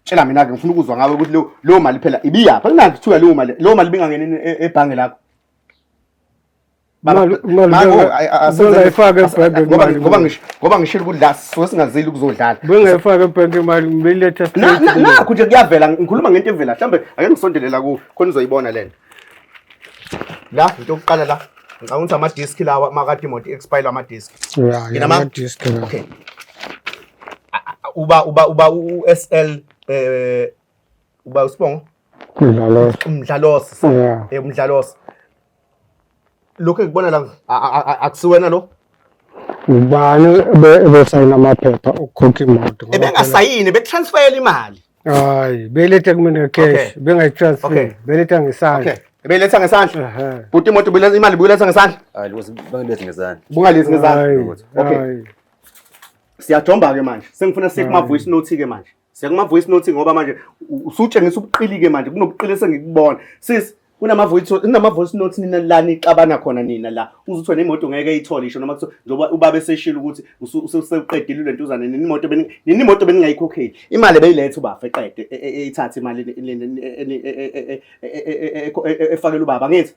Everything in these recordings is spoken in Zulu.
tshela mina ke ngifuna ukuzwa ngawe ukuthi leyo leyo mali phela ibiyapha kunani kuthiwa leyo mali leyo mali bingangeni e- e- ebhange lakho Baba, Imali- imali manje, benga- ay- ay- asenze- bengayifaki as- ebhange ngoba- imali. ngoba ngish- ngoba ngishilo ukuthi la sisuke singazeli ukuzodlala bengayifaki ebhenki imali ngibeletha Na- na- nakho nje kuyavela ngikhuluma ngento evela mhlawumbe ake ngisondelela kuwe khona uzoyibona lena la into yokuqala la ngicabanga ukuthi ama-disk lawa makade imoto expire ama-disk ya Ngina ma- ngama-disk la. okay uba uba uba u-sl eh uba usibongo Ngidlalo. umdlalosi Ya. eh umdlalosi lokhu ekubona la akusiwena lo ubani ebesayina amaphepha okukhokha imoto ebengasayini betransfayela imali hayi beletha kumina cash bengayitransfer beletha ngesandla Beletha ngesandla. Bhuti imoto ibuletha imali ibuletha ngesandla. Hayi lokho bangilethe ngezandla. Bungalethe ngezandla. Okay. Siyajomba ke manje. Sengifuna siye kuma voice note ke manje. Siyakuma voice note ngoba manje usutshengisa ubuqilike manje kunobuqili esengikubona. Sis kunama voice kunama voice note nina la nixabana khona nina la. Uzuthi wena imoto ngeke ayithole isho noma kuthiwa njengoba ubaba eseshilo ukuthi usuqedile le ntuzane nini imoto beni nini imoto beningayikhokheli. Imali beyilethe ubafa eqede eyithathe imali efakela ubaba ngithi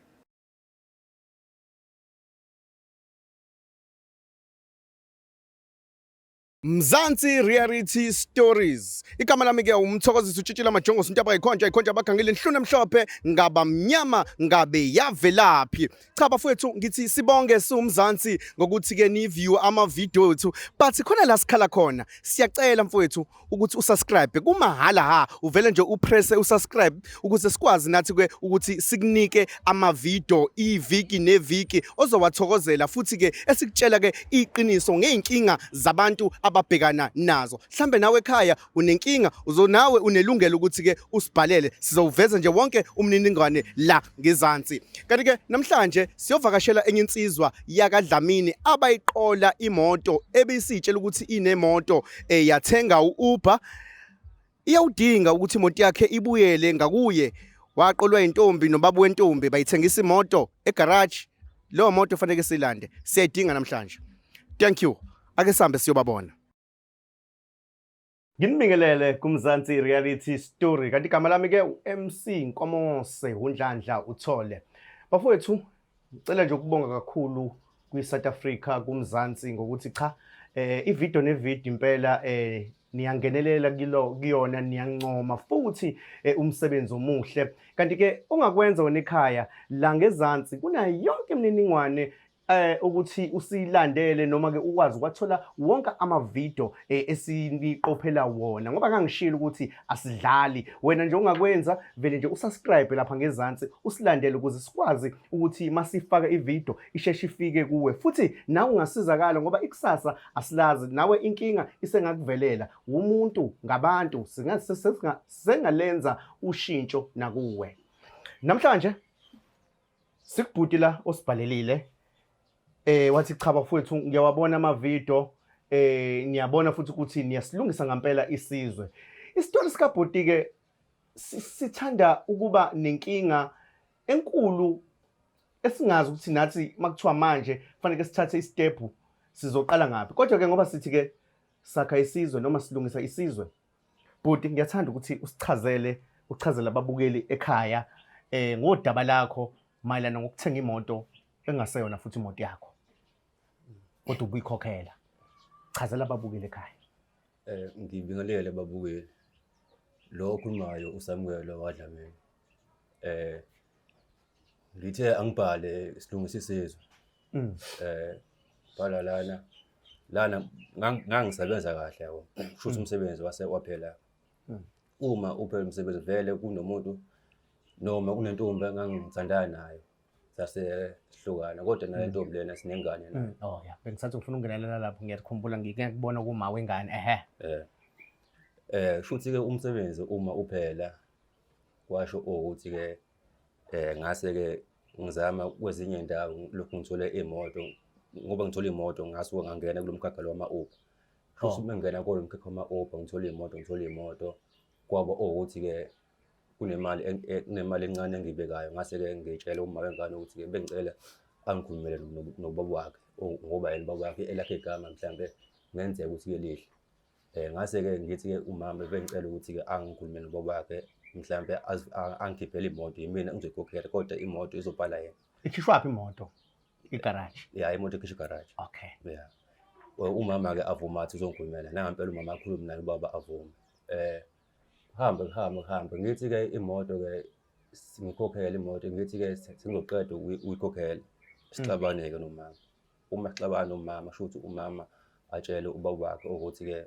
Mzansi Reality Stories. Igama lami ke umthokozisi utshitshile amajongosi into abayikhonja ikhonja abagangile inhluna emhlophe ngaba mnyama ngabe yavelaphi. Cha bafowethu ngithi sibonge siwumzansi ngokuthi ke ni view ama video ethu but khona la sikhala khona. Siyacela mfowethu ukuthi usubscribe kumahala ha uvele nje upresse usubscribe ukuze sikwazi nathi ke ukuthi sikunike amavidiyo iviki neviki ozowathokozela futhi ke esikutshela ke iqiniso ngeenkinga zabantu ababhekana nazo mhlambe nawe ekhaya unenkinga uzonawe unelungelo ukuthi ke usibhalele sizowuveza nje wonke umniningwane la ngezansi kanti ke namhlanje siyovakashela enye insizwa yakadlamini abayiqola imoto ebisitshela ukuthi inemoto eh, yathenga u-uber Iyawudinga ukuthi imoto yakhe ibuyele ngakuye waqolwa intombi nobaba wentombi bayithengisa imoto egarage leyo moto kufanele silande siyayidinga namhlanje thank you ake sihambe siyobabona Nginibingelele kumzansi reality story kanti igama lami ke uMC Nkomose uNdlandla uthole bafowethu Ngicela nje ukubonga kakhulu kwi-South Africa kumzansi ngokuthi cha eh ivideo nevideo impela eh niyangenelela kilo kuyona niyancoma futhi eh, umsebenzi omuhle kanti ke ongakwenza wena ekhaya la ngezansi kunayo yonke imininingwane eh ukuthi usilandele noma ke ukwazi kwathola wonke ama video eh, esiniqophela wona ngoba ngangishilo ukuthi asidlali wena nje ungakwenza vele nje usubscribe lapha ngezansi usilandele ukuze sikwazi ukuthi masifaka ivideo isheshe ifike kuwe futhi nawe ungasizakala ngoba ikusasa asilazi nawe inkinga isengakuvelela umuntu ngabantu singalenza ushintsho nakuwe namhlanje sikubhuti la osibhalelile Eh wathi cha bafowethu ngiyawabona amavidio eh niyabona futhi ukuthi niyasilungisa ngampela isizwe. Isitori sika Bhoti ke sithanda ukuba nenkinga enkulu esingazi ukuthi nathi makuthiwa manje kufanele sithathe istep sizoqala ngaphi. Kodwa ke ngoba sithi ke sakha isizwe noma silungisa isizwe. Bhoti ngiyathanda ukuthi usichazele uchazela ababukeli ekhaya eh ngodaba lakho mayelana ngokuthenga imoto engaseyona futhi imoto yakho kodwa ubuyikhokhela chazela ababukeli ekhaya Eh ngibingelele babukeli. Lo okhulumayo uSamuel wadlamini. Eh ngithe angibhale isilungisi sizwe. Mm. Eh bhala lana lana ngang- ngangisebenza kahle yabo. Kushuthi umsebenzi wase waphela. Mm. Uma uphela umsebenzi vele kunomuntu noma kunentombi engangithandana nayo sasehlukana kodwa nale ntombi lena sinengane nayo oh ya bengisathi ngifuna ukungenelela lapho ngiyakukhumbula ngike ngikubona kuma wengane ehe eh eh shuthi ke umsebenzi uma uphela kwasho ukuthi ke eh ngase ke ngizama kwezinye indawo lokhu ngithole imoto ngoba ngithola imoto ngasuka ngangena kulomkhakha lo wama Uber shuthi uma ngena kolomkhakha wama Uber ngithola imoto ngithola imoto kwaba ukuthi ke kunemali kunemali encane engiyibekayo ngase-ke ngitshele uma wengane ukuthi-ke bengicela angikhulumele nobaba wakhe ngoba yena ubaba wakhe elakhe igama mhlawumbe kungenzeka ukuthi-ke lihle um ngase-ke ngithi-ke umama bengicela ukuthi-ke angikhulume nobaba wakhe mhlawumbe angikhiphele imoto yimina engizoyikhokhela kodwa imoto izobhala yena ikhishwaphi imoto igaraji ya imoto ikhishwa igaraji okay ya umama-ke avuma athi uzongikhulumela nangampela umama akhulume naye ubaba avume um Kuhambe kuhambe kuhambe ngithi-ke imoto-ke ngikhokhele imoto ngithi-ke sengizoqeda ukuyikhokhela sixabaneke nomama. Uma sixabana nomama shuthi umama atshele ubaba wakhe ukuthi-ke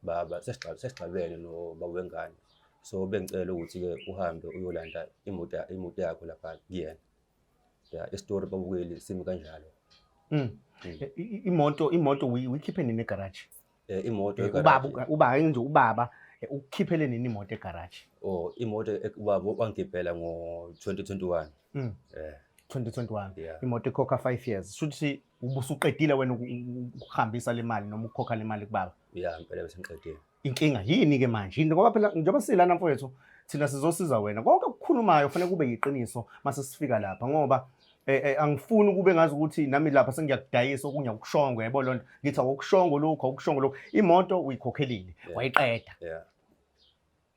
baba sesixabene nobaba wengane. So bengicela ukuthi-ke uhambe uyolanda imoto imoto yakho lapha kuyena. ya isitori babukeli simi kanjalo Mm. Mm. I- i- Imoto imoto uyi- uyikhiphe nini egarage? Eh, imoto Eh, egaraji. Ubaba uka- ubaba nje ubaba eh, ukukhiphele nini imoto egarage? oh imoto ek- ubaba wangigibhela ngo-2021 Mm. eh 2021. yeah Imoto ikhokha 5 years. Shuthi ubusuqedile wena uku- uku- ukuhambisa le mali noma ukukhokha le mali kubaba. yeah ngempela besengiqedile inkinga yini ke manje yini ngoba phela njengoba silana mfowethu thina sizosiza wena konke okukhulumayo kufanele kube yiqiniso mase sifika lapha ngoba eh, eh, angifuni ukube ngazi ukuthi nami lapha sengiyakudayisa okunye akushongo yebo loo nto ngithi awukushongo lokhu awukushongo lokhu imoto uyikhokhelile Yeah. wayiqeda yeah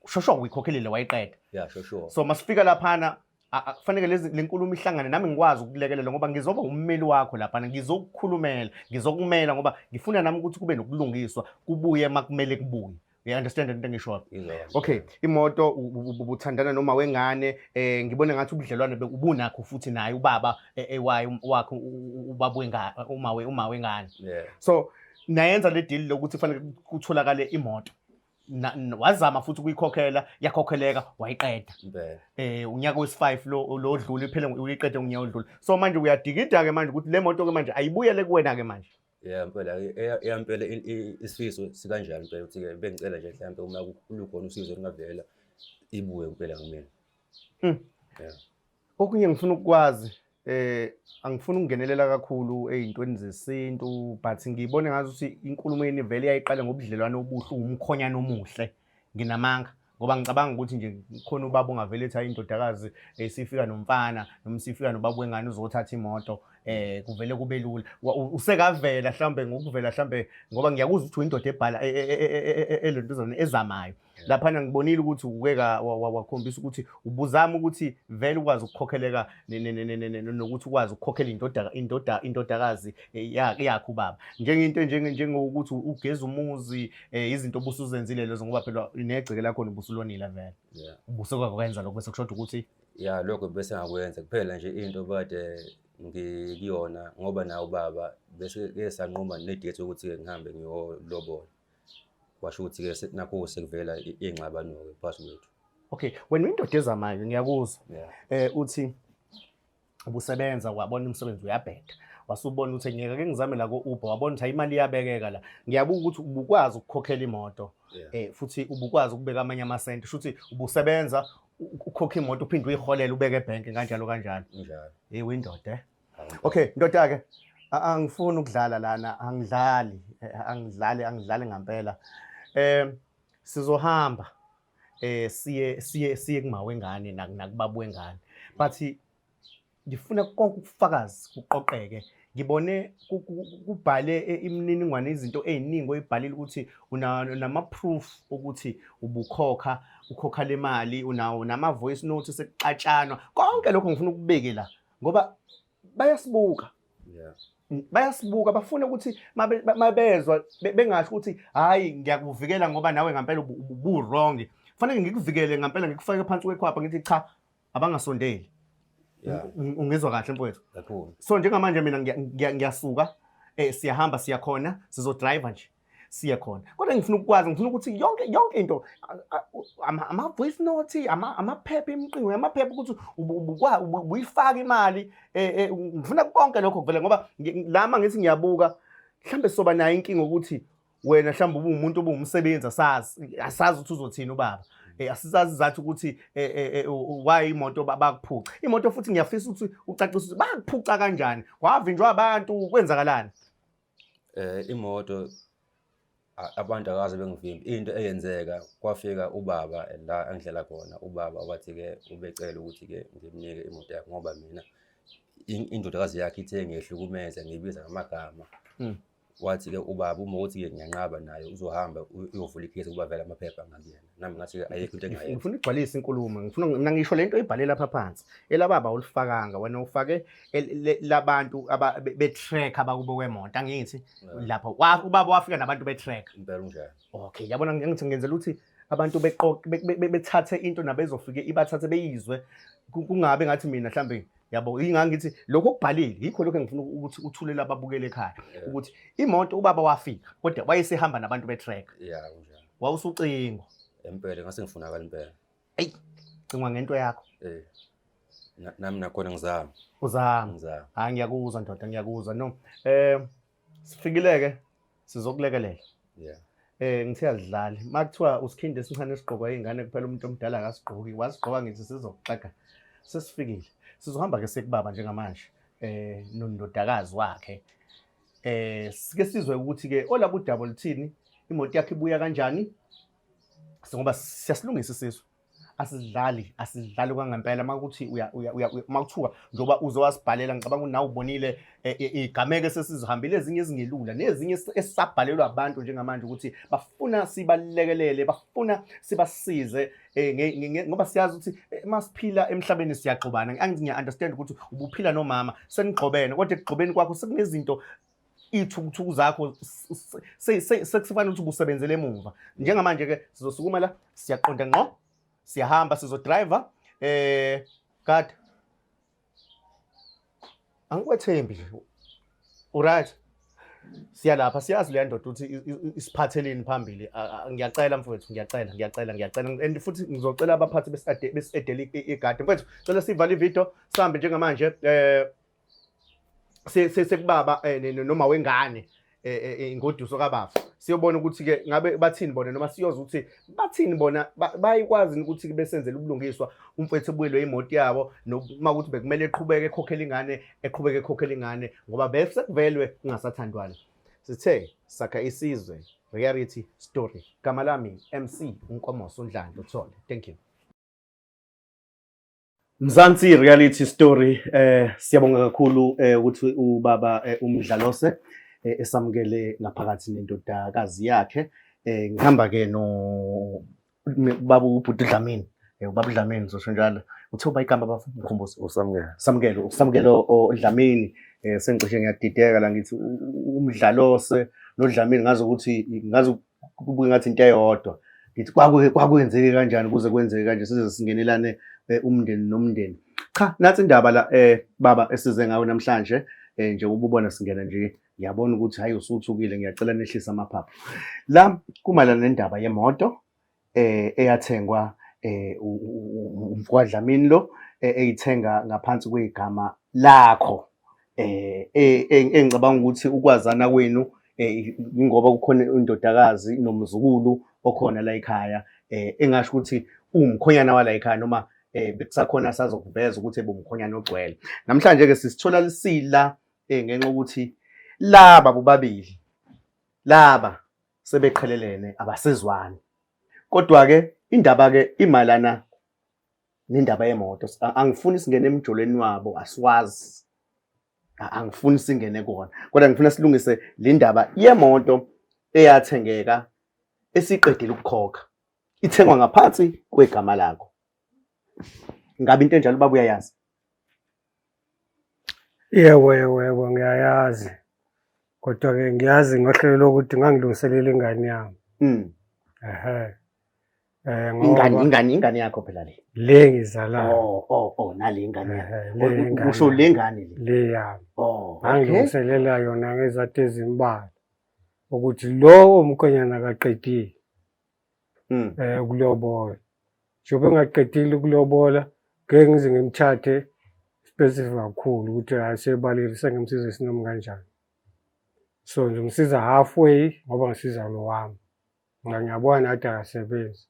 shosho uyikhokhelile wayiqeda yeah sure sure so masifika laphana A- a- Kufanele lezi le nkulumo ihlangane nami ngikwazi ukulekelela ngoba ngizoba ummeli wakho lapha ngizokukhulumela ngizokumela ngoba ngifuna nami ukuthi kube nokulungiswa kubuye makumele kubuye. You understand into engishoyo? Ngizwa kahle. Okay, imoto u- u- u- ubuthandana noma wengane eh ngibona ngathi ubudlelwane be- ubunakho futhi naye ubaba eh, eh, wayo um- wakho u- u- ubaba wengane uma we uma wengane. Yeah. So nayenza le deal lokuthi kufanele kutholakale imoto. Na- n- wazama futhi ukuyikhokhela yakhokheleka wayiqeda Impela. eh unyaka wesi5 lo lo odlule iphele ngo- uyiqede unyaka odlule so manje uyadikida ke manje ukuthi le moto ke manje ayibuyele kuwena ke manje Yeah, impela e- e- eyampela i- i- isifiso sikanjalo impela ukuthi ke bengicela nje mhlawumbe uma ku- lukhona usizo olungavela ibuye impela kumina. Okunye ngifuna ukukwazi eh angifuni ukungenelela kakhulu ezintweni zesintu but ngibone ngazi ukuthi inkulumo yeni vele yayiqala ngobudlelwane obuhle umkhonyana omuhle nginamanga ngoba ngicabanga ukuthi nje khona ubaba ongavele ethi ayindodakazi esifika eh, nomfana noma sifika nobaba wengane uzothatha imoto eh kuvele kube lula usekavela mhlambe ngokuvela mhlambe ngoba ngiyakuzwa ukuthi uyindoda ebhala elentuzana e, e, e, ezamayo laphana ngibonile ukuthi uke wakhombisa ukuthi ubuzama ukuthi vele ukwazi ukukhokheleka nokuthi ukwazi ukukhokhela indodakazi eh, yakho ubaba njengento njengokuthi ugeza umuzi eh, izinto obusuzenzile lezo ngoba phela negceke lakho nobusulonile vele ubuse kwakwenza lokho bese kushoda ukuthi ya lokho bese ngakwenza kuphela nje into bade ngikuyona ngoba nawo ubaba bese ke sanquma nedate ukuthi ngihambe ngiyolobola kwasho ukuthi-ke nakho sekuvela iy'ngxabano-ke phakathi kwethu okay wena uyindoda ezamayo ngiyakuzwa eh uthi ubusebenza wabona umsebenzi uyabheda wasubona ukuthi ngeke ke ngizame la ko-uber wabona ukuthi imali iyabekeka la ngiyabuka ukuthi ubukwazi ukukhokhela imoto eh futhi ubukwazi ukubeka amanye amasenti shuthi ubusebenza ukhokha imoto uphinde uyiholele ubeke ebhenki kanjalo kanjalo njalo hey windoda eh? Okay, ndoda ke a- angifuni ukudlala lana, angidlali, eh, angidlali, angidlali ngampela. Eh sizohamba eh siye siye siye kuma wengane nak- nakubabu wengane. But ngifuna konke ubufakazi kuqoqeke. Ngibone ku- ku- ku- kubhale eh, imininingwane izinto eziningi oyibhalile ukuthi una nama proof ukuthi ubukhokha ukhokha le mali unawo nama voice note sekuxatshanwa. Konke lokho ngifuna ukubeke la. ngoba bayasibuka yeah bayasibuka bafuna ukuthi mabezwa bengasho ukuthi hayi ngiyakuvikela ngoba nawe ngampela ubu wrong fanele ngikuvikele ngampela ngikufake phansi kwekhwapha ngithi cha abangasondeli ungizwa kahle mfowethu so njengamanje mina ngiyasuka eh siyahamba siyakhona sizodriver nje siye khona kodwa ngifuna ukukwazi ngifuna ukuthi yonke yonke into ama voice note ama amaphepha imiqingo yamaphepha ukuthi ubuyifaka imali eh, eh, ngifuna konke lokho kuvele ngoba lama ngithi ngiyabuka mhlambe soba nayo inkinga ukuthi wena mhlawumbe ubuwumuntu obuwumsebenzi asazi asazi ukuthi uzothini ubaba eh, asisazi zathi ukuthi eh, eh, why imoto bakuphuca imoto futhi ngiyafisa ukuthi ucacise ukuthi bakuphuca kanjani wavinjwa abantu kwenzakalani Imoto abantu akaze bengivimbe, into eyenzeka kwafika ubaba la engihlala khona, ubaba wathi-ke ubecela ukuthi-ke ngimnike imoto yakhe ngoba mina indodakazi yakhe ithe ngiyehlukumeza ngibiza ngamagama. Hmm. Wathi-ke ubaba uma ukuthi-ke ngiyanqaba naye uzohamba uyovula ikhesi ukuba vele amaphepha ngakuyena. nami ngathi ayikho into engayenza ngifuna igcwalise inkulumo ngifuna mina ngisho lento ibhale lapha phansi elababa ulifakanga wena ufake labantu be track abakubo kwemonto angithi lapho ubaba wafika nabantu be track impela unjani okay yabona ngithi ngenzela ukuthi abantu beqoqe bethathe into nabezofike ibathathe beyizwe kungabe ngathi mina mhlambe yabo ingangithi lokho kubhalile yikho lokho engifuna ukuthi uthulele ababukele ekhaya ukuthi imoto ubaba wafika kodwa wayesehamba nabantu be track yeah wawusucingwa empela ngase ngifunakala impela eyi cingwa ngento yakho eh na- nami nakhona ngizama uzama ngizama hayi ngiyakuzwa ndoda ngiyakuzwa no um sifikile-ke sizokulekelela yeah um ngithe azidlali uma kuthiwa usikhindi esincane esigqokwa iy'ngane kuphela umuntu omdala akasigqoki wasigqoka ngithi sizokuxega sesifikile sizohamba-ke sekubaba njengamanje um nondodakazi wakhe Eh sike sizwe ukuthi ke olaba udaba oluthini imoto yakhe ibuya kanjani ngoba siyasilungisa isizwe asidlali asidlali kwangempela makuthi makuthiwa njengoba uze wasibhalela ngicabanga ukuthi nawe ubonile eh, eh, igameko esesizihambile ezinye ezingelula nezinye esisabhalelwa abantu njengamanje ukuthi bafuna sibalekelele bafuna sibasize Eh, ngoba siyazi ukuthi eh, masiphila emhlabeni siyaxobana angithi ngiya-understand ukuthi ubuphila nomama senigxobene kodwa ekugxobeni kwakho sekunezinto iy'thukuthuku zakho sekusifanele ukuthi ubusebenzele emuva njengamanje-ke sizosukuma la siyaqonda ngqo siyahamba sizodrayiva um eh, kade angikwethembi nje uright siya lapha siyazi leya ndoda ukuthi isiphatheleni phambili ngiyacela mfowethu ngiyacela ngiyacela ngiyacela and futhi ngizocela abaphathi besidedela igadi mfowethu cela sivale ividiyo sihambe njengamanje um sekubaba eh, noma wengane eh, eh, eh, ingoduso kabafu siyobona ukuthi ke ngabe bathini bona noma siyoza ukuthi bathini bona bayikwazi ukuthi besenzele ubulungiswa umfethu ebuyelwe imoto yabo noma ukuthi bekumele eqhubeke ekhokhela ingane eqhubeke ekhokhela ingane ngoba bese kuvelwe kungasathandwana sithe sakha isizwe reality story gama lami mc unkomoso undlando thole thank you Mzansi reality story eh siyabonga kakhulu eh ukuthi ubaba eh, umdlalose eh, esamukele ngaphakathi nendodakazi yakhe eh ngihamba ke no baba ubhuti Dlamini eh ubaba Dlamini zosho njalo uthe uba igama bafo mkhumbuzo usamukele samukele usamukele oDlamini eh sengicishe ngiyadideka la ngithi umdlalose nodlamini ngazi ukuthi ngazi kubuke ngathi into eyodwa ngithi kwakwenzeke kanjani kuze kwenzeke kanje size singenelane eh, umndeni nomndeni cha nathi indaba la eh baba esize ngayo namhlanje eh nje ububona singena nje ngiyabona ukuthi hayi usuthukile ngiyacela nehlisa amaphaphu la kumalana nendaba yemoto eh eyathengwa eh umfwadlamini lo eh, eyithenga ngaphansi kwegama lakho eh, eh, eh engicabanga ukuthi ukwazana kwenu ingoba kukhona indodakazi nomzukulu okhona la ekhaya eh engasho ukuthi umkhonyana wala ekhaya noma eh bekusakhona asazokuveza ukuthi ebumkhonyana ogcwele namhlanje ke sisithola lisila eh ngenxa ukuthi laba bobabili laba sebeqhelelene abasezwani kodwa-ke indaba-ke imayelana nendaba yemoto angifuni singene emjolweni wabo asiwazi angifuni singene kona kodwa ngifuna silungise le ndaba yemoto eyathengeka esiqedile ukukhokha ithengwa ngaphansi kwegama lakho ngabe into enjalo baba uyayazi Yebo, yebo, yebo, ngiyayazi. Kodwa-ke ngiyazi ngohlelo lokuthi ngangilungiselela ingane yami. Mm. Ehhe. Eh, ngoba- Ingane ingane ingane yakho phela le. Le ngizalayo. Oh oh oh nale ingane yakho. Ehhe, le Ku- ngane Kusho yami. le ngane le. Le yami. Oh. okay. Ngangilungiselela yona ngezathu ezimbalwa. Ukuthi lo omkhwenyana kaqedile. mm. eh ukulobola njengoba engaqedile ukulobola ngeke ngize ngimthathe specific kakhulu ukuthi asebalile sengemsiza isinomi kanjani so ngimsiza halfway ngoba ngisiza lo wami ngoba ngiyabona nathi akasebenzi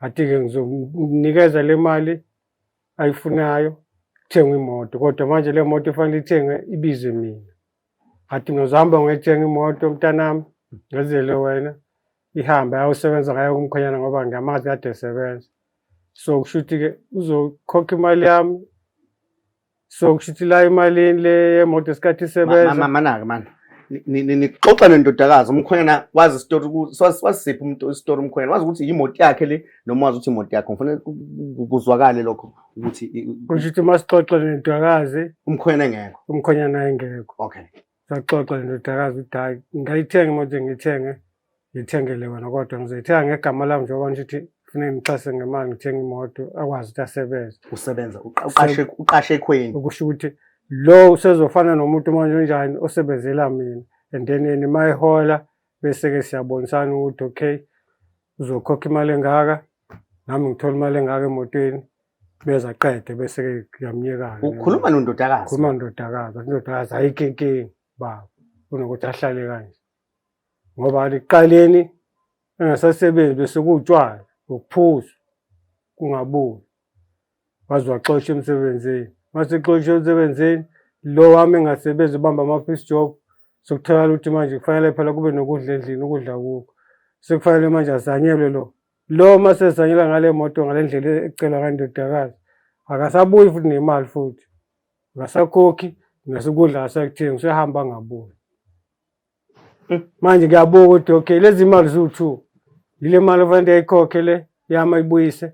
athi-ke ngizomnikeza le mali ayifunayo kuthengwe imoto kodwa manje le moto ifanele ithengwe ibize mina athi ngizohamba ngoyithenga imoto mntanami ngezele wena ihambe ayosebenza ngayo kumkhonyana ngoba ngiyamazi kade esebenza so kusho ukuthi-ke uzokhokha imali yami so kusho ukuthi la imalini le yemoto esikhathi isebenza manake mani nixoxa nendodakazi umkhonyana wazi isitori wasiphi umuntu isitori umkhonyana wazi ukuthi yimoto yakhe le noma wazi ukuthi imoto yakhe ngifanele kuzwakale lokho ukuthi kusho ukuthi uma sixoxa nendodakazi umkhonyana engekho umkhonyana engekho okay Saxoxa ndodakazi ukuthi hayi ngayithenga imoto ngiyithenge ngithengele wena kodwa ngizoyithenga ngegama lami njengoba ngithi kufuneka ngixhase ngemali ngithenge imoto akwazi ukuthi asebenze usebenza uqashe uqashe ekhweni ukusho ukuthi lo usezofana nomuntu manje onjani osebenzela mina and then yena mayihola bese-ke siyabonisana ukuthi okay uzokhokha imali engaka nami ngithola imali engaka emotweni beza qede bese-ke ngiyamnyekana ukhuluma nondodakazi khuluma nondodakazi indodakazi ayikho inkinga baba kunokuthi ahlale kanje ngoba aliqaleni engasasebenzi bese kuwutshwala ngokuphuza kungabuyi waze waxoshwa emsebenzini masexoshwe emsebenzini lo wami engasebenzi ubamba ama-piece job sokutholakala ukuthi manje kufanele phela kube nokudla endlini ukudla kuko sekufanele manje azanyelwe lo lo masezanyelwa ngale moto ngale ndlela ecelwa ngandodakazi akasabuyi futhi nemali futhi ngasakhokhi nasukudla asakuthengi usehamba angabuyi Hmm, manje ngiyabonga ukuthi okay lezi mali ziwu-two yile mali ofanele ndiyayikhokhe le yami ayibuyise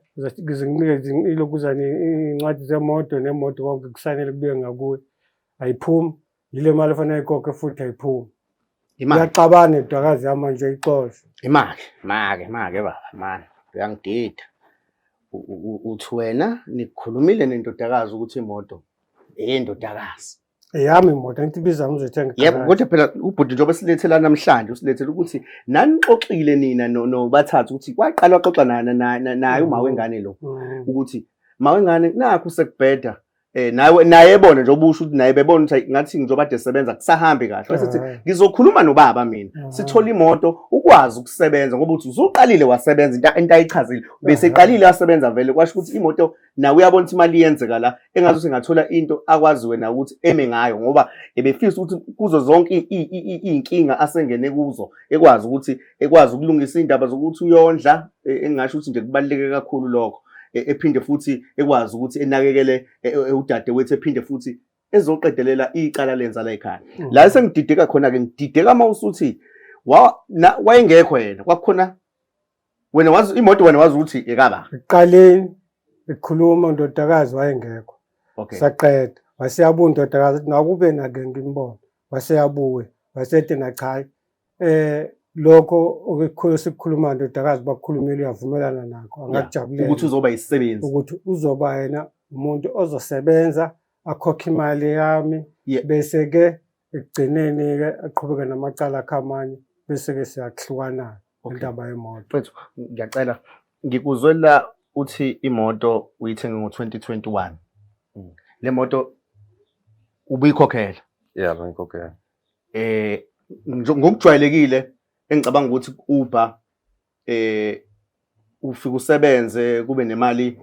ngizinikeze ilokuzane iy'ncwadi zemoto nemoto konke kusanele kubuye ngakuye ayiphumi yile mali ofanele ayikhokhe futhi ayiphumi uyacabana idwakazi yami manje ixoshe imali make make baba mani uyangidida uthi wena nikhulumile nendodakazi ukuthi imoto eyendodakazi eyami imoto angithi ibiza ngizoyithenga yebo kodwa phela ubhuti njengoba silethela namhlanje usilethela ukuthi nanixoxile nina nobathathu ukuthi kwaqala waxoxa naye uma wengane lo mm. ukuthi ma wengane nakho sekubheda Eh nawe naye ebona nje obusho ukuthi naye bebona ukuthi ngathi njengoba de sebenza kusahambi kahle wasethi eh. ngizokhuluma nobaba mina eh. sithola imoto ukwazi ukusebenza ngoba uthi usuqalile wasebenza into into ayichazile bese eh. iqalile yasebenza vele kwasho ukuthi imoto nawe uyabona ukuthi imali iyenzeka la engathi sengathola into akwazi wena ukuthi eme ngayo ngoba ebefisa ukuthi kuzo zonke iy'nkinga asengene kuzo ekwazi ukuthi ekwazi ukulungisa iy'ndaba zokuthi uyondla e, engingasho ukuthi nje kubaluleke kakhulu lokho e, ephinde futhi ekwazi ukuthi enakekele e, udade wethu ephinde futhi ezoqedelela icala lenza la ekhaya mm. la esengidideka khona-ke ngidideka uma usuthi wayengekho yena kwakukhona wena wazi imoto wena wazi ukuthi ekaba iqaleni ikhuluma undodakazi wayengekho okay saqeda waseyabuya undodakazi athi nakube nake ngimbona waseyabuya wasethi nachayi eh lokho okukhulu sikukhuluma ndodakazi bakukhulumile uyavumelana nakho angakujabulela ukuthi uzoba isisebenzi ukuthi uzoba yena umuntu ozosebenza akhokhe imali yami bese ke ekugcineni-ke aqhubeke namacala akhe amanye bese-ke siyakuhlukana-ke Okay. indaba yemoto Mfethu, ngiyacela ngikuzwe la uthi imoto uyithenge ngo-2021 Mm. le moto ubuyikhokhela Yeah, bengikhokhela. eh njo- ngokujwayelekile engicabanga ukuthi uber eh ufike usebenze kube nemali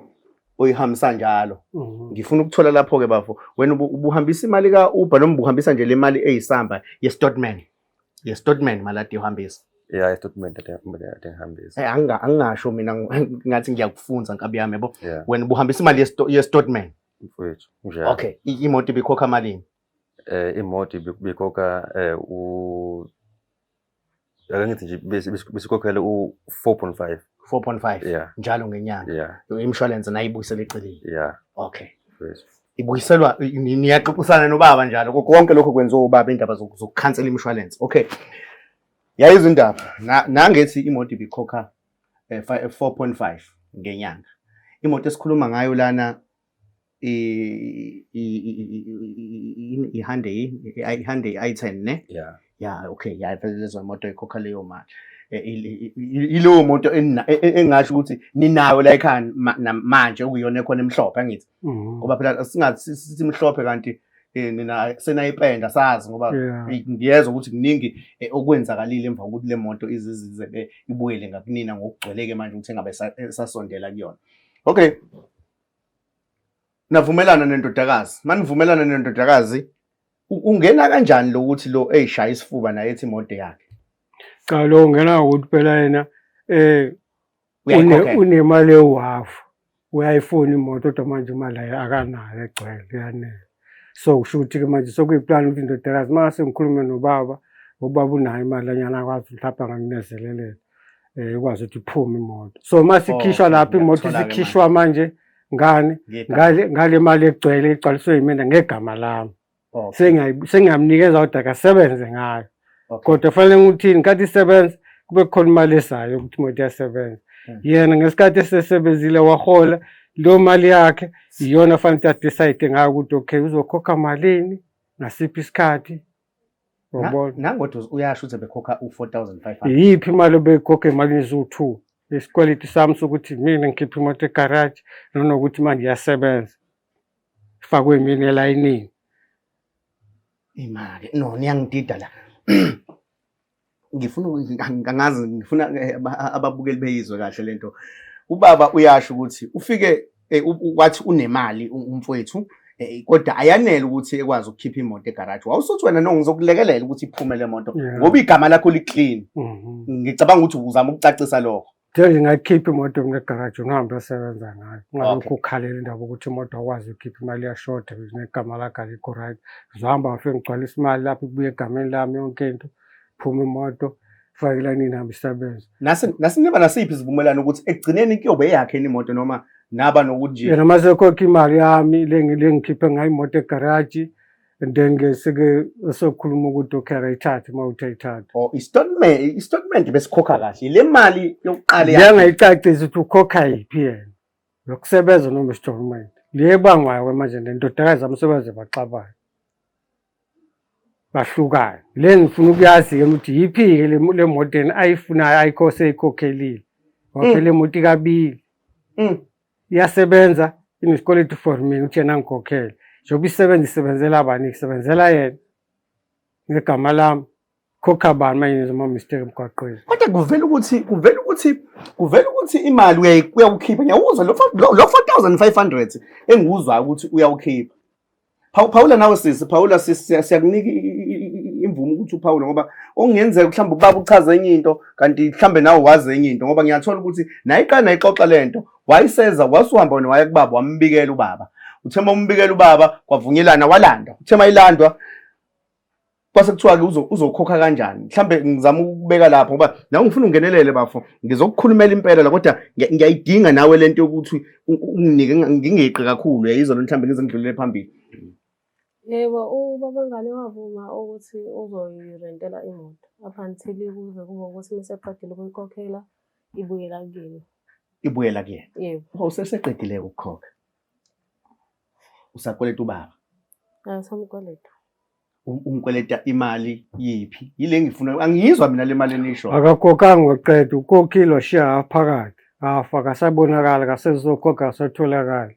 oyihambisa njalo Mhm. ngifuna ukuthola lapho ke bafo wena ubu- ubuhambisa imali ka Uber noma ubuhambisa nje le mali eyisamba ye statement ye statement maladi uhambisa Yeah, istatement atengihambisa. Eh, anginga- angingasho mina ng- ngathi ngiyakufunza nkabi yami yabo Yeah, wena ubuhambisa imali ye sto- ye statement mfowethu. Njalo. okay i- imoto ibikhokha malini Eh imoto ibikoka eh u ake ngithi nje bes- bes- besikhokhela u-four point five 4.5 yeah njalo ngenyanga yeah imshwalense nayo ibuyisela eceleni yeah okay yes. ibuyiselwa i- ni- niyaxoxisana nobaba njalo ko- konke lokho kwenziwa ubaba indaba zoku- zokukhansela imshwalense okay yayizwa indaba Na- nangethi imoto ibikhokha eh, fi- eh, 4.5 ngenyanga imoto esikhuluma ngayo lana ihande ihande i-item ne ya ya okay ya vele lezo moto ikhokha leyo mali ilowo moto engasho ukuthi ninayo la ekhaya manje okuyona ekhona emhlophe angithi mm-hmm. ngoba phela singathi simhlophe kanti Eh, nina senayipenda sazi ngoba ngiyezwa ukuthi kuningi eh, okwenzakalile emva kokuthi le moto izizize eh, ibuyele ngakunina ngokugcweleke manje ukuthi engabe esasondela kuyona okay navumelana nendodakazi manivumelana nendodakazi ungena kanjani lo ukuthi lo eyishaya isifuba naye ethi imoto yakhe cha lo ungena ngokuthi phela yena eh unemali ewafu uyayifuna imoto kodwa manje imali akanayo egcwele yanele so kusho ukuthi-ke manje sekuyiplani ukuthi indodakazi uma sengikhulume nobaba ubaba unayo imali anyana akwazi mhlawumbe angakunezelelela um eh, ikwazi ukuthi iphume imoto so uma sikhishwa oh, lapho imoto isikhishwa manje ngani ngale mali egcwele igcwaliswe yimina ngegama lami oh, sengingamnikeza kodwa akasebenze ngayo Okay. Kodwa fanele ngithini nkathi isebenza kube khona imali esayo ukuthi imoto iyasebenza. Hmm. Yena ngesikhathi esesebenzile wahola lo mali yakhe iyona fanele ukuthi adecide ngayo ukuthi okay uzokhokha malini ngasiphi isikhathi Yabona. Nangothi uyasho ukuthi bekhokha u4500. Iyiphi imali obeyikhokha emalini eziwu2? Isikweletu sami sokuthi mina ngikhipha imoto egarage nanokuthi manje iyasebenza. Ifakwe mina elayinini. Imake no niyangidida la. Ngifuna ngangazi ngifuna eh, ababukeli beyizwe kahle lento. Ubaba uyasho ukuthi ufike eh, wathi unemali umfowethu Eh, kodwa ayanele ukuthi ekwazi ukukhipha imoto egaraji wawusuthi wena no ngizokulekelela ukuthi iphume le moto ngoba igama lakho li-clean mhm. ngicabanga ukuthi uzama ukucacisa lokho Ngeke ngingayikhipha imoto mina egaraji ungihambe asebenza ngayo ungalokhu ukhalela indaba ukuthi imoto akwazi ukukhipha imali yashoda negama lakhe alikho right zohamba ngifike ngigcwalisa imali lapho kubuye egameni lami yonke into phuma imoto fakela nini hambe isebenza nasiniba nasiphi isivumelwano ukuthi ekugcineni kuyobe eyakhe imoto noma naba nokuthi nje yena masekhokha imali yami lengikhiphe ngayo imoto egaraji and then ke sike sokhuluma ukuthi ukhera ithathe uma uthe ithathe oh istatement istatement besikhokha kahle le mali yokuqala yangayicacisa ukuthi ukhokha yiphi yena nokusebenza noma isitolment le ebangwayo ke manje nendodakazi amsebenze baxabayo bahlukane le ngifuna ukuyazi ke ukuthi yiphi ke le moto ayifunayo ayikho seyikhokelile waphela mm. emoto ikabili mm. iyasebenza inesikweletu for mina ukuthi yena ngikhokhele njengoba isebenza isebenzela bani isebenzela yena ngegama lami khokha bani manje nizoma mistake emgwaqweni kodwa kuvela ukuthi kuvela ukuthi kuvela ukuthi imali uyayi- uyawukhipha ngiyawuzwa lo fo- lo lo 4500 engiwuzwayo ukuthi uyawukhipha Phawula nawe sisi, phawula sisi, siyakunika imvume ukuthi uphawule ngoba okungenzeka mhlawumbe ubaba uchaza enye into kanti mhlawumbe nawe wazi enye into ngoba ngiyathola ukuthi nayiqala nayixoxa le nto wayiseza wasuhamba wena waya kubaba wambikela ubaba uthema umbikela ubaba kwavunyelana walanda uthema ilandwa kwase kuthiwa-ke uzokhokha kanjani mhlawumbe ngizama ukubeka lapho ngoba nawe ngifuna ungenelele bafo ngizokukhulumela impela la kodwa ngiyayidinga nawe le nto yokuthi unginike ngingeqi kakhulu yayizona mhlawumbe ngize ngidlulele phambili yebo ubabangane wavuma ukuthi uzoyirentela imoto up until kuze kube ukuthi meseqedile ukuyikhokhela ibuyela kuyena ibuyela kuyena yebo useseqedile ukukhokha usakweleta ubaba angisamkweleta umkweleta imali yiphi yile ngifuna angiyizwa mina le mali enisho akakhokhanga waqeda ukhokhile washiya half phakathi half akasabonakali akasezokhokha akasatholakali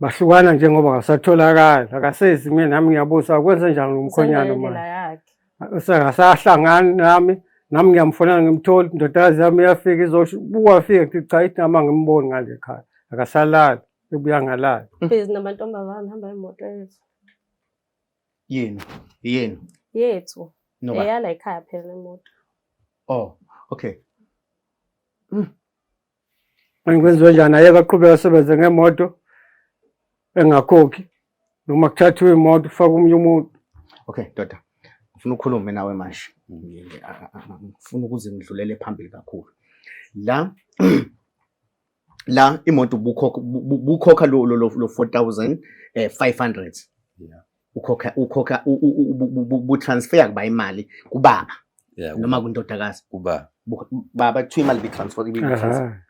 bahlukana njengoba akasatholakali akasezi mina nami ngiyabuza akwenze njani umkhonyana manje Sengasahlangani nami nami ngiyamfonela ngimtholi indodakazi yami iyafika izobuka afike kuthi cha ithi nama ngimboni ngale khaya akasalali ebuya ngalali. Busy namantombazane hamba imoto yethu. Yenu, yenu. Yethu. No. Eyala ekhaya phela imoto. Oh, okay. Mm. Manje kwenziwe njani? Ayeke aqhubeke asebenze ngemoto engakhokhi noma kuthathiwe imoto kufake omunye umuntu. Okay, ndoda. Ngifuna ukhulume nawe manje. Ngifuna ukuze ngidlulele phambili kakhulu. La la imoto ubukhokha ubukhokha lo lo 4500. Yeah. ukhokha ukhokha butransfer kuba imali kubaba noma kundodakazi kubaba baba kuthiwa imali bitransfer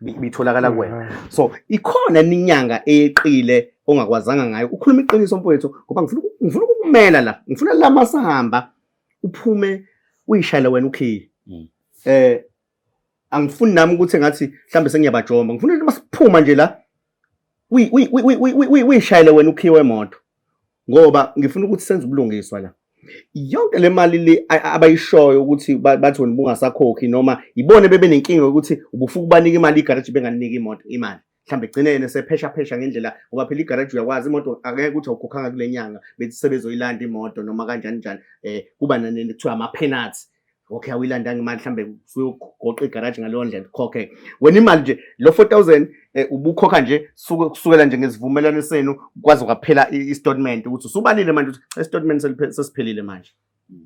ibitholakala kuwena so ikhona inyanga eyeqile ongakwazanga ngayo ukhuluma iqiniso mfowethu ngoba ngifuna ngifuna ukumela la ngifuna la masahamba uphume uyishayele wena ukhiye mm. eh angifuni nami ukuthi ngathi mhlambe sengiyabajomba ngifuna ukuthi masiphuma nje la uyishayele wena ukhiwe emoto ngoba ngifuna ukuthi senze ubulungiswa la yonke le mali le abayishoyo ukuthi bathi wena ubungasakhokhi noma yibona bebenenkinga yokuthi ubufuka ubanika imali igaraji benganika imoto imali mhlawumbe egcineni esepheshaphesha ngendlela ngoba phela igaraji uyakwazi imoto akeke ukuthi awukhokhanga kule nyanga bethi sebezoyilanda imoto noma kanjani njani um kuba nanini kuthiwa ama-penalty okay awuyilandanga imali mhlawumbe suyogoqa igaraji ngaleyo ndlela ukhokhe wena imali nje lo four thousand um ubukhokha nje kusukela nje ngesivumelwano senu kwaze kwaphela i-statement ukuthi usubalile manje ukuthi i-statement sesiphelile manje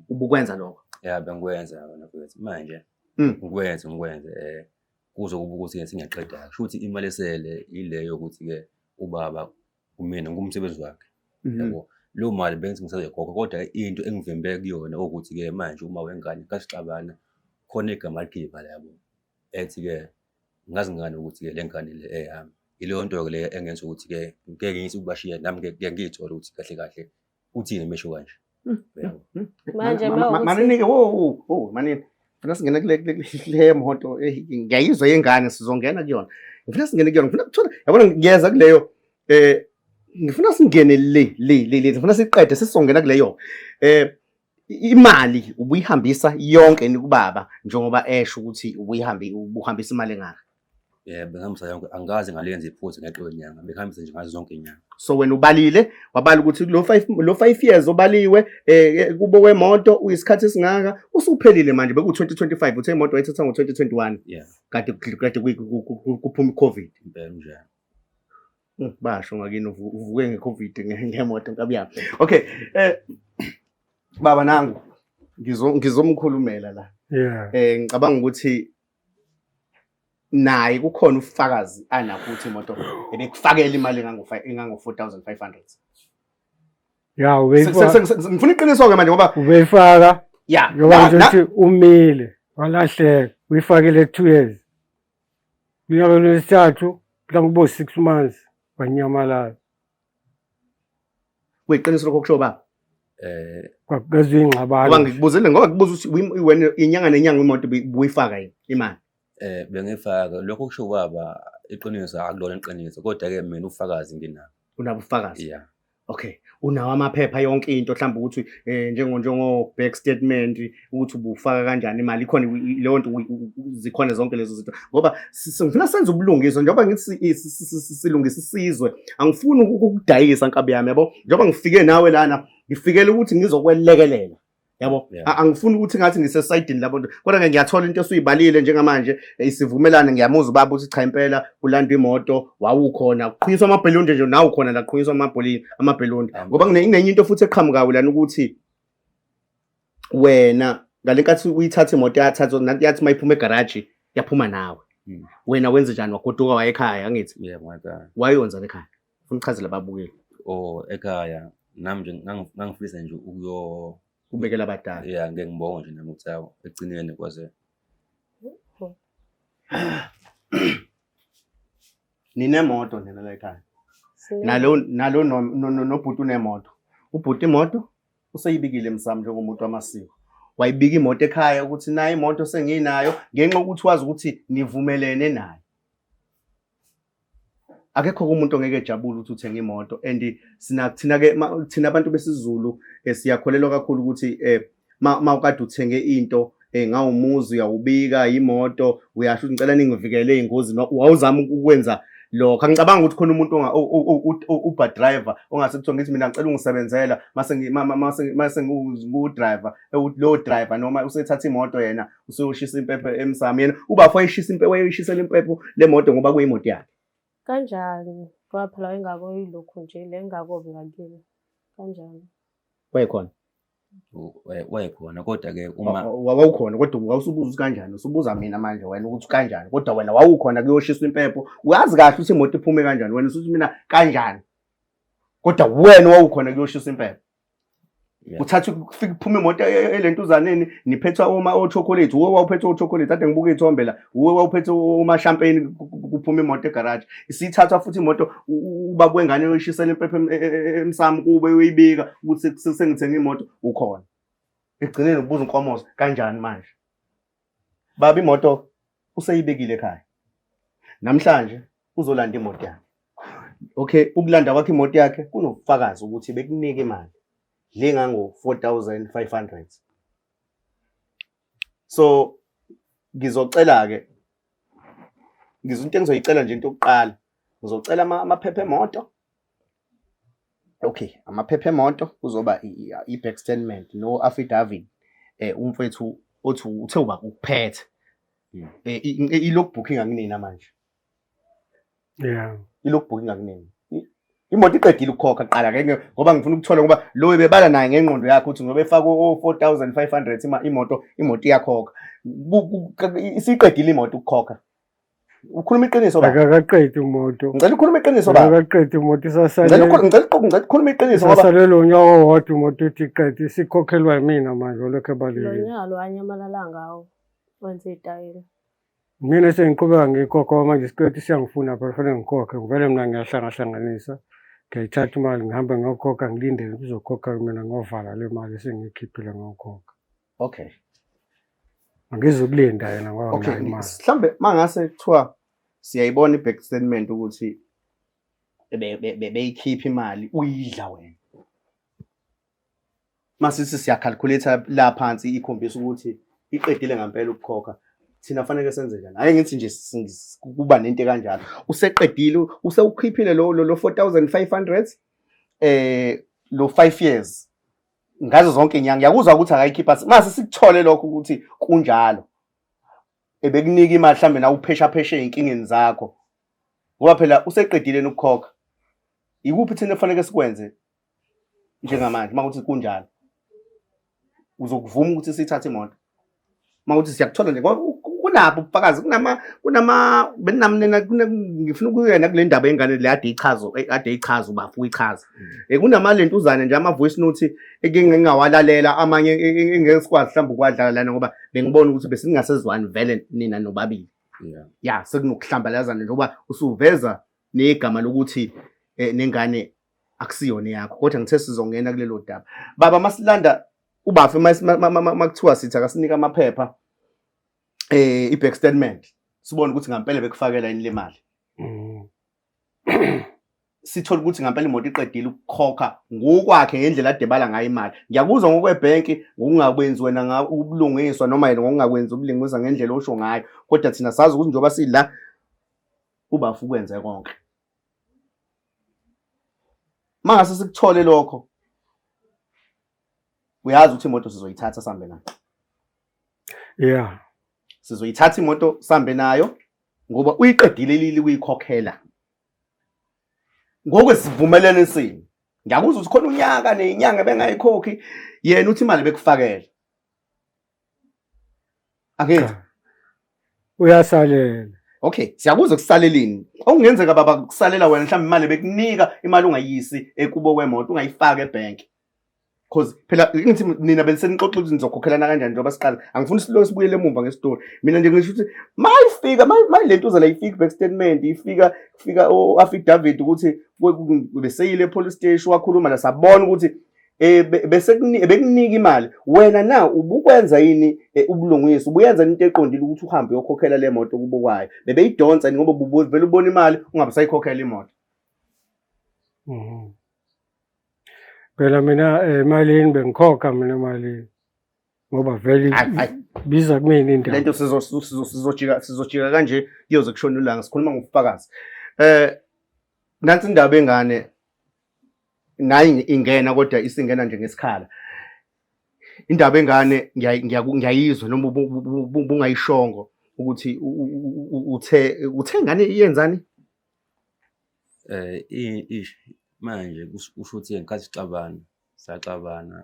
ubukwenza lokho ya bengikwenza manje hmm. ngikwenze ngikwenze um kuzo kuba ukuthi ke singaqeda kusho ukuthi imali esele ileyo ukuthi ke ubaba kumina ngumsebenzi wakhe mhm. yabo leyo mali bengithi ngisazoyikhokha kodwa into engivimbe kuyona ukuthi ke manje uma wengane kasixabana khona igama ligile imali yabo ethi ke ngazi ngani ukuthi ke le ngane le eyami ileyo nto ke le engenza ukuthi ke ngeke ngiyise ukubashiya nami ngeke ngiyithole ukuthi kahle kahle uthini mesho kanje hmm, hmm, hmm. manje maninike wo wo manini ngifuna singene kule kule moto eh, ngiyayizwa yengane sizongena kuyona ngifuna singene kuyona ngifuna kuthola yabona ngiyeza kuleyo eh ngifuna singene le le le le ngifuna siqede sesizongena kuleyo eh imali ubuyihambisa yonke ni kubaba njengoba esho ukuthi ubuyihambi ubuhambisa imali engaka Eh bengihambisa yonke angikaze ngaliyenza iphutha ngeqe kwenyanga bengihambisa nje ngazo zonke inyanga. So wena ubalile wabala ukuthi lo 5 lo 5 years obaliwe eh, eh kubo wemoto uyisikhathi esingaka usuphelile manje beku 2025 uthe imoto wayithatha ngo 2021 Yeah kade kade kuyi- ku- ku- ku- kuphuma iCovid impela nje. Mm, basho ngakini uvu- uvuke ngeCovid nge- ngemoto nkabiyami okay eh baba nangu ngizo ngizomkhulumela la Yeah. eh ngicabanga ukuthi naye kukhona ufakazi anakho ukuthi imoto ebekufakela imali engango-4500 ya ngifuna iqiniso-ke manje ngoba ubeyifaka ya ngoba nje ukuthi umile walahleka uyifakele two years unyaka lwesithathu mhlawumbe kubo-six months wanyamalala kuyiqiniso lokho kusho baba eh kwakezwe ingxabano ngoba ngikubuzile ngoba ngibuza ukuthi wena inyanga nenyanga imoto buyifaka yini imali eh bengifaka lokho kusho baba iqiniso akulona iqiniso kodwa ke mina ufakazi nginabo unabo ufakazi yeah okay unawo amaphepha yonke into mhlawumbe ukuthi eh njengo njengo bank statement ukuthi ubufaka kanjani imali ikhona leyo nto zikhona zonke lezo zinto ngoba ngifuna senze ubulungiswa njengoba ngithi silungisa isizwe angifuni ukudayisa nkabi yami yabo njengoba ngifike nawe lana ngifikele ukuthi ngizokwelekelela yabo angifuni ukuthi ngathi ngisesayidini labo nto kodwa ke ngiyathola into esuyibalile njengamanje eh, isivumelane ngiyamuza ubaba ukuthi cha impela kulandwa imoto wawukhona kuqhunyiswa amabhelunde nje nawu khona la kuqhunyiswa amabhelunde ngoba kunenye into futhi eqhamukayo lana ukuthi wena ngale nkathi uyithatha imoto yathatha nanti yathi uma iphuma egaraji yaphuma nawe Mm. wena wenze njani wagoduka waye ekhaya angithi yeah ngwakhaya wayonzani ekhaya funa uchazele ababukeli or ekhaya nami nje ngangi- ngangifisa nje ukuyo kubekela abadala yeah ngeke ngibonge nje nami ukuthi awu ekugcineni kwaze ninemoto nina la ekhaya Sine- nalo nalo no- no- no- nobhuti unemoto ubhuti imoto useyibikile msamo njengomuntu wamasiko wayibika imoto ekhaya ukuthi naye imoto senginayo ngenxa ukuthi wazi ukuthi nivumelene naye akekho umuntu ongeke ejabule ukuthi uthenge imoto and sina thina ke thina abantu besizulu eh, siyakholelwa kakhulu ukuthi eh ma ukade uthenge into eh ngawumuzi uyawubika imoto uyasho ngicela ningivikele ingozi wawuzama ukwenza lokho angicabanga ukuthi khona umuntu uber driver ongase kuthiwa ngithi mina ngicela ungisebenzela mase ngiwudriver lowo driver noma usethatha imoto yena usuyoshisa impepho emsamo yena ubafo wayishisa impepho wayeyishisela impepho le moto ngoba kuyimoto yakhe kanjani ngoba phela wayengako yilokhu nje le ngakobi ngakini kanjani wayekhona eh, wayekhona kodwa-ke uma wawukhona kodwa wawusubuza ukuthi kanjani usubuza mina manje wena ukuthi kanjani kodwa wena wawukhona kuyoshiswa impepho uyazi kahle ukuthi imoto iphume kanjani wena usuthi mina kanjani kodwa wena wawukhona kuyoshiswa impepho uthatha kufika kuphume imoto e, e, elentuzaneni niphethwa uma ochocolate wo wawuphethwa ochocolate ade ngibuka ithombe la uwe wawuphethe umashampeni kuphuma imoto egaraji isithathwa futhi imoto uba kwengane uyishisela impepha e, e, e, emsamo kube uyibika ukuthi sengithenga imoto ukhona ekugcineni ubuza inkomozo kanjani manje baba imoto useyibekile ekhaya namhlanje uzolanda imoto yakhe okay ukulanda kwakhe imoto yakhe kunobufakazi ukuthi bekunike imali le ngango-4500 so ngizocela-ke ngizo into engizoyicela nje into yokuqala ngizocela amaphepha emoto okay amaphepha emoto kuzoba i-back statement no affidavit eh umfethu othi uthe uba ukuphethe hmm. eh, i-log booking anginina manje yeah ilogbook ingakunini imoto iqedile ukukhokha qala ke ngoba ngifuna ukuthola ngoba lo ebebala naye ngengqondo yakhe ukuthi ngoba efaka o-4500 imoto imoto iyakhokha isiqedile imoto ukukhokha ukhuluma iqiniso ba akaqedi umuntu ngicela ukhuluma iqiniso ba akaqedi umuntu isasale ngicela ukhuluma ngicela uqoqo ngicela ukhuluma iqiniso ngoba isasale lo nyaka owodwa umuntu uthi qedi isikhokhelwa yimina manje olokho ebalile lo nyaka lo anyamalala ngawo wenze itayela Mina sengiqhubeka ngikhokhwa manje isikweletu siyangifuna phela fanele ngikhokhe ngivele mina ngiyahlangahlanganisa ngiyayithatha imali ngihambe ngiyokhokha ngilindele kuzokhokha mina ngovala le mali esengiyikhiphile ngokhokha okay angizukulinda yena ngoba okay mhlawumbe mangase kuthiwa siyayibona i-back statement ukuthi beyikhipha imali uyidla wena masisi siyakhalculator la phansi ikhombisa ukuthi iqedile ngempela ukukhokha thina fanele senze njani hayi ngithi nje kuba nento kanjalo useqedile usewukhiphile lo lo 4500 eh lo 5 years ngazo zonke inyanga yakuzwa ukuthi akayikhipha mase sikuthole lokho ukuthi kunjalo ebekunika imali mhlambe na uphesha pheshe inkingeni zakho ngoba phela useqedile ukukhokha ikuphi thina kufanele sikwenze njengamanje uma kuthi kunjalo uzokuvuma ukuthi sithathe imoto uma kuthi siyakuthola nje kunabo ubufakazi kunama kunama benamnena ngifuna ukuyena kule ndaba yengane le ade ichazo ade ichaza ubafu uyichaza eh, kunama lentuzane nje ama voice note engingawalalela amanye engesikwazi mhlawumbe ukwadlala lana ngoba bengibona ukuthi besingasezwani vele nina nobabili ya sekunokuhlambalazana njengoba usuveza negama lokuthi eh, nengane akusiyona eyakho kodwa ngithe sizongena kulelo daba baba masilanda ubafe makuthiwa sithi akasinike amaphepha eh i-back statement sibone ukuthi ngampela bekufakela yini le mali mm. sithole ukuthi ngampela imoto iqedile ukukhokha ngokwakhe ngendlela adebala ngayo imali ngiyakuzwa ngokwebhenki ngokungakwenzi wena ubulungiswa noma yena ngokungakwenzi ubulungiswa ngendlela osho ngayo kodwa thina sazi ukuthi njengoba sila ubafu ukwenze konke mangase sikuthole lokho uyazi ukuthi imoto sizoyithatha sambe nayo yeah sizoyithatha imoto sambe nayo ngoba uyiqedile lili kuyikhokhela ngokwesivumelene sini ngiyakuzwa ukuthi khona unyaka nenyanga bengayikhokhi yena uthi imali bekufakela Ake cha uyasalela okay siyakuza kusaleleni okungenzeka baba kusalela wena mhlawumbe imali bekunika imali ungayisi ekubo kwemoto ungayifaki ebank cause phela ngithi nina benisenixoxa ukuthi nizokhokhelana kanjani njengoba siqala angifuni silokhu sibuyele emuva ngesitori mina nje ngisho ukuthi mayifika mayi- mayi le ntuza la ifika back statement ifika kufika o-affidavit ukuthi we- ku- beseyile epolice station wakhuluma la sabona ukuthi eh bese bekunika imali wena na ubukwenza yini eh, ubulungisa ubuyenza into eqondile ukuthi uhambe uyokhokhela le moto kubukwayo bebeyidonsa ngoba ubuvela ubona imali ungabe sayikhokhela imoto mhm. phela mina eh, emalini bengikhokha mina emalini ngoba vele biza kumina indawo lento sizojika sizojika kanje kuyoze kushona ulanga sikhuluma ngobufakazi eh nansi indaba engane ngayi ingena kodwa isingena nje ngesikhala indaba engane ngiyayizwa noma bungayishongo ukuthi uthe uthe ngane iyenzani eh manje kusho ukuthi ngenkathi sixabana saxabana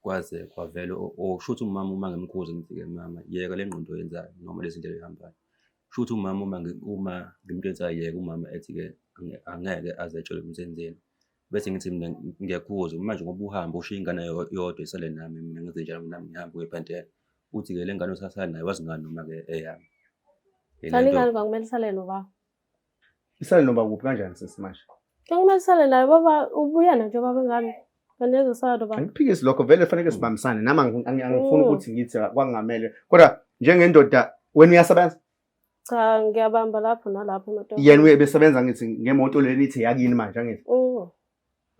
kwaze kwavela osho ukuthi umama uma ngimkhuze ngithi-ke mama yeka le ngqondo oyenzayo noma lezi ndlela ehambayo Kusho ukuthi umama uma uma ngimuntu ethi ayeke umama ethi-ke angeke aze etshele ukuthi enzeni. Bese ngithi mina ngiyakuzwa manje ngoba uhambe ushiye ingane yodwa isale nami mina ngenze njalo nami ngihambe uye ephantela. Uthi-ke le ngane osasala nayo wazi ngani noma-ke eyami. Kaningani kwakumele isale nobaba? Isale noba kuphi kanjani sisi manje? Ngicela isale naye baba ubuya nayo baba ngani? Kanti ezosala noba. Angiphikisi lokho vele fanele sibambisane nami angi- angi- angifuni Mm. ukuthi ngithi kwangamele kodwa njengendoda wena uyasebenza Cha ngiyabamba lapho nalapho ematora. yena uyebesebenza ngithi ngemoto leni ithi yakini manje angithi Mm.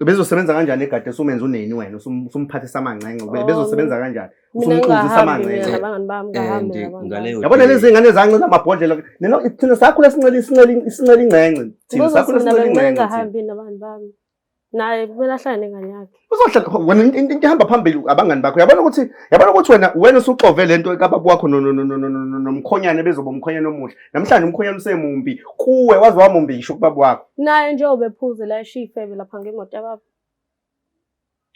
bezosebenza kanjani egade usumenza uneni wena usumphathisa amancenga oh. bezosebenza kanjani usumqinzisa amancenga yabona lezi ngane zance namabhodlela neno thina sakhula sincela isincela isincela ingcence thina sakhula sincela ingcence ngahambi nabantu bami naye kumele ahlale nengane yakhe uzohlala wena into ihamba phambili abangani bakho yabona ukuthi yabona ukuthi wena wena usuxove lento kababa wakho nomkhonyane bezoba umkhonyane omuhle Namhlanje umkhonyana usemumbi kuwe waze wamumbi ngisho kubaba wakho. Naye nje obephuze la eshifebe lapha ngemoto yababa.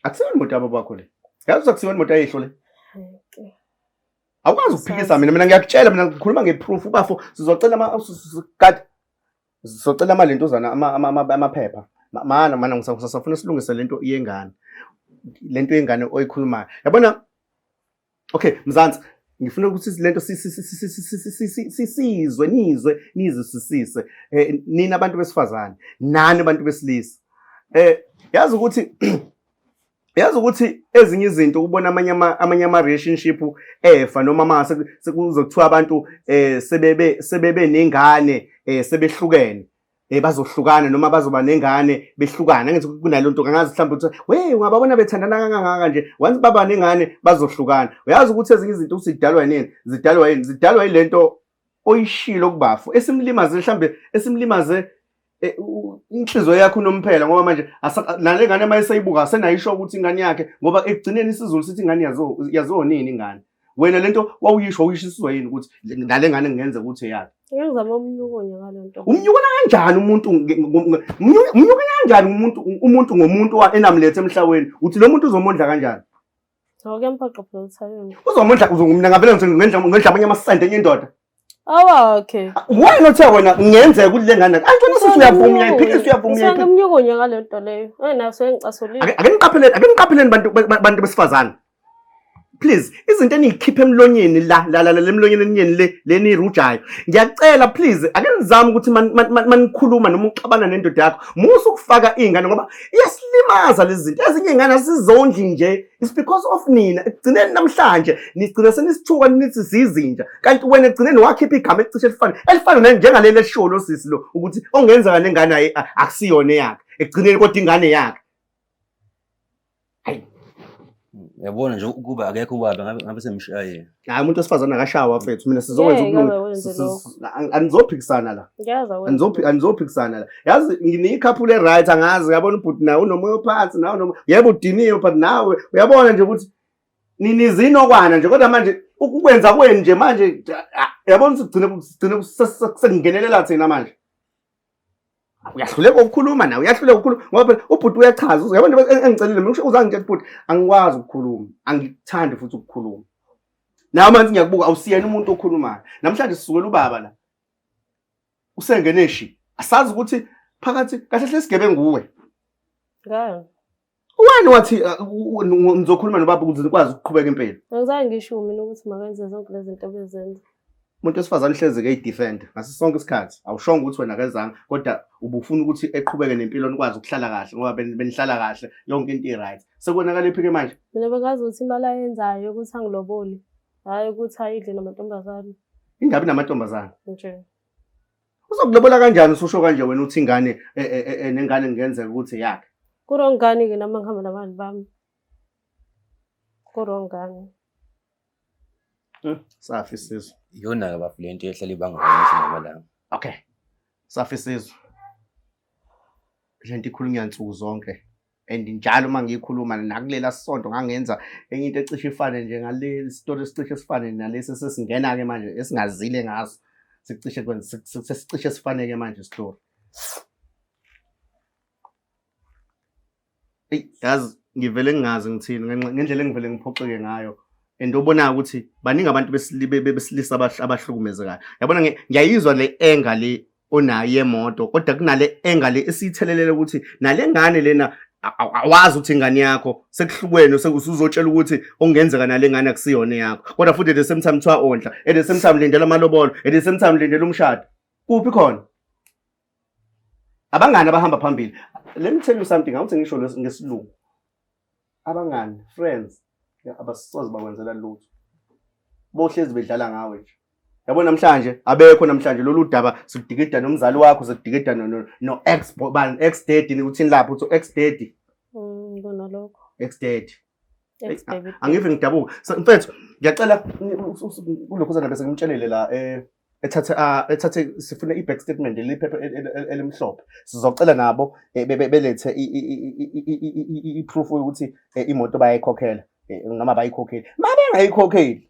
Akusiyona imoto yababa wakho le. Yazi akusiyona imoto ayehlo le. Awukwazi ukuphikisa mina mina ngiyakutshela mina ngikhuluma ngeproof ubafo sizocela ama kade sizocela ama lentozana ama amaphepha. Mana mana ngisafuna silungise lento yengane. Lento yengane oyikhulumayo. Yabona Okay, Mzansi, ngifuna ukuthi lento sisizwe nizwe nizisisise eh, nina abantu besifazane nani abantu besilisa eh yazi ukuthi yazi ukuthi ezinye izinto ukubona amanye amanye ama relationship efa noma mase sekuzokuthiwa abantu eh sebebe sebebe nengane eh sebehlukene Eh bazohlukana noma bazoba nengane behlukana ngenze kunalo nto kangazi mhlawumbe ukuthi we ungababona bethandana kangaka nje once baba nengane bazohlukana uyazi ukuthi ezinye izinto usidalwa yini zidalwa yini zidalwa yilento oyishilo kubafo esimlimaze mhlambe esimlimaze eh, inhliziyo yakho unomphela ngoba manje nale ngane uma eseyibuka asenayisho ukuthi ingane yakhe ngoba ekugcineni isizulu sithi ingane yazonini ingane wena lento wawuyisho wawuyishiswa yini ukuthi nale ngane ngenze ukuthi eyakhe ngizama umnyukonya ngalento umnyukona kanjani umuntu umnyuka kanjani umuntu umuntu ngomuntu enamlethe emhlaweni uthi lo muntu uzomondla kanjani Ngizomondla ngizomondla ngizomondla amanye amasende enye indoda awakhe wena othe wena ngenzeka ukuthi le ngane antona sisi uyavuma uyayiphikisa uyavuma uyayiphikisa ngimnyukunye ngale nto leyo ayinayo sengicasule ake niqapheleni ake niqapheleni bantu bantu besifazane please izinto eniyikhipha emlonyeni la la la lemlonyeni enyeni le leni rujayo ngiyacela please ake nizame ukuthi manikhuluma noma uxabana nendoda yakho musa ukufaka izingane ngoba iyasilimaza lezi zinto ezinye izingane asizondli nje It's because of nina ekugcineni namhlanje nigcina senisithuka nithi zizinja kanti wena ekugcineni wakhipha igama elicishe elifana elifana naye njengaleli esishiwo lo sisi lo ukuthi ongenzeka nengane ayi akusiyona eyakhe ekugcineni kodwa ingane yakhe yabona nje ukuba akekho ubaba ngabe ngabe semshayile hayi umuntu wesifazane akashawa mfethu mina sizokwenza ukulunga anizophikisana la anizophikisana la yazi ngineyikhaphulo e-right angazi uyabona ubhuti nawe unomoya ophansi nawe unomoya yebo udiniwe but nawe uyabona nje ukuthi ninizinokwana nje kodwa manje ukwenza kwenu nje manje yabona ukuthi kugcine kusekungenelela thina manje uyahluleka ukukhuluma nawe uyahluleka ukukhuluma ngoba phela ubhuti uyachaza uyabona into engicelile mina kusho uzangitshela ukuthi bhuti angikwazi ukukhuluma angikuthandi futhi ukukhuluma nawe manje ngiyakubuka awusiyena umuntu okhulumayo namhlanje sisukela ubaba la usengene shi asazi ukuthi phakathi kahle hle sigebengu nguwe Wani wathi uh, ngizokhuluma nobaba ukuze nikwazi ukuqhubeka impilo. Angizange ngisho mina ukuthi makenze zonke lezi zinto bezenza. Umuntu wesifazane uhlezi ke idefend ngaso sonke isikhathi. Awushongo ukuthi wena kezange kodwa ubufuna ukuthi eqhubeke nempilo nikwazi ukuhlala kahle ngoba benihlala kahle yonke into i-right. Sekonakala iphi ke manje? Mina bengazi ukuthi imali ayenzayo ukuthi angilobole. Hayi ukuthi ayidle namantombazane. Ingabi namantombazane. Nje. uzokulobola kanjani ususho kanje wena uthi ingane e, e, e, nengane ngenzeka ukuthi yakhe kurong ngani ke nami ngihamba nabantu bami kurong ngani hmm, safi sizwe iyona-ke bafu le nto ehlala ibangaaisi namalanga okay safi sizwe le nto ikhulunywa nsuku zonke and njalo uma ngiyikhuluma nakulela sonto ngangenza enye into ecishe ifane nje ngale story esicishe sifane nalesi sesingena ke manje esingazile ngaso sicishe kwenza sesicishe sifaneke manje story Ey yazi ngivele ngingazi ngithini ngenxa- ngendlela engivele ngiphoxeke ngayo and obonayo ukuthi baningi abantu besili- be- be- besilisa abah- abahlukumezekayo yabona ngi- ngiyayizwa le anger le onayo yemoto kodwa kunale engale esiyithelelele ukuthi nale ngane lena awazi ukuthi ingane yakho sekuhlukweni usuzotshela ukuthi okungenzeka nale ngane akusiyona yakho kodwa futhi at the same time kuthiwa ondla at the same time lindela amalobolo at the same time lindela umshado kuphi khona abangani abahamba phambili let me tell you something awuthi ngisho ngesilungu abangani friends abasoze bakwenzela lutho bohlezi bedlala ngawe nje yabo namhlanje abekho namhlanje lolu daba sidikida nomzali wakho sidikida no no ex bani ex daddy uthini lapho uthi ex daddy mm, kona lokho ex daddy angive ngidabuka mfethu ngiyacela kulokho sana bese ngimtshelele la eh ethathe ah, ethathe sifuna i-back statement liphepha elimhlophe sizocela nabo eh, belethe i-proof yokuthi eh, imoto bayayikhokhela eh, noma bayikhokheli ma bengayikhokheli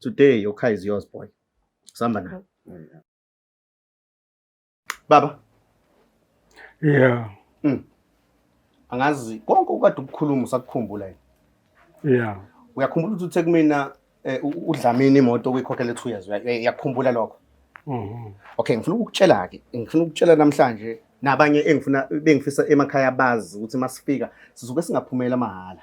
today your car is yours boy sihamba nayo Baba. Yeah. Mm. Angazi konke ukade ukukhuluma usakukhumbula yini? Yeah. Uyakhumbula ukuthi uthe kumina eh, u- udlamini imoto okuyikhokhela 2 years. uya- Uyakukhumbula lokho? Mhm. Okay, ngifuna ukukutshela ke. Ngifuna ukutshela namhlanje nabanye engifuna bengifisa emakhaya bazi ukuthi masifika sizobe singaphumela mahhala.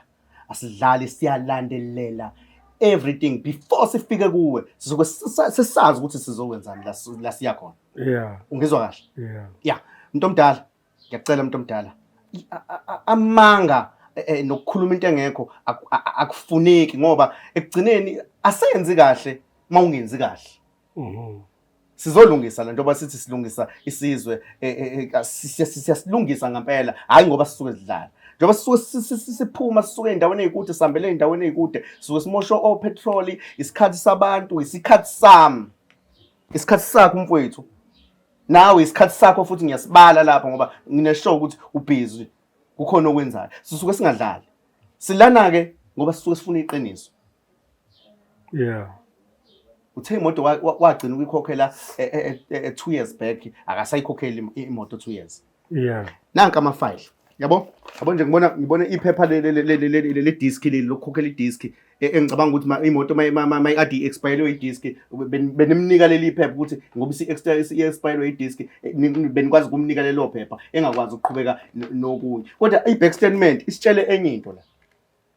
asidlali siyalandelela everything before sifike kuwe sizoke sisa- sisazi ukuthi sizokwenzani la si- la siya khona yeah ungizwa kahle yeah ya mntu omdala ngiyacela mntu omdala I- a- a- a- amanga eh, eh, nokukhuluma into engekho aku- a- a- akufuneki ngoba ekugcineni asenzi kahle uma ungenzi kahle Mhm. Sizolungisa lento basithi silungisa isizwe e, e, e, siyasilungisa ngempela hayi ngoba sisuke sidlala njengoba sisuke siphuma sisuke endaweni ezikude sihambele endaweni ezikude sisuke simosho o petrol isikhathi sabantu isikhathi sami isikhathi sakho umfowethu nawe isikhathi sakho futhi ngiyasibala lapha ngoba ngineshow ukuthi ubhizi kukhona okwenzayo sisuke singadlali silana ke ngoba sisuke sifuna iqiniso yeah uthe imoto wagcina ukuyikhokhela e, e, e, two years back akasayikhokheli imoto two years yeah nanka amafayile yabo yabo nje ngibona ngibona iphepha le disk leli lokukhokhela idisk engicabanga ukuthi imoto mayikade i-expirelwe idisk benimnika leli phepha ukuthi ngoba i-expirelwe idisk benikwazi ukumnika lelo phepha engakwazi ukuqhubeka nokunye kodwa i-back statement isitshele enye into la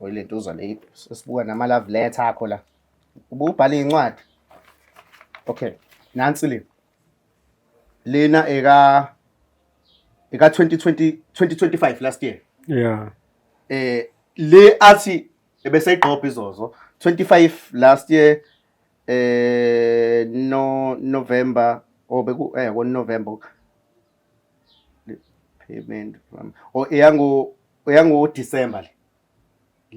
Oyilentuza le sesibuka nama love letter akho la. Ububhala incwadi. Okay. Nansi le. Lena eka eka 2020 2025 last year. Yeah. Eh le athi ebese igqopha izozo 25 last year eh no November or oh, beku eh ngo November payment from or oh, eyango uyango December le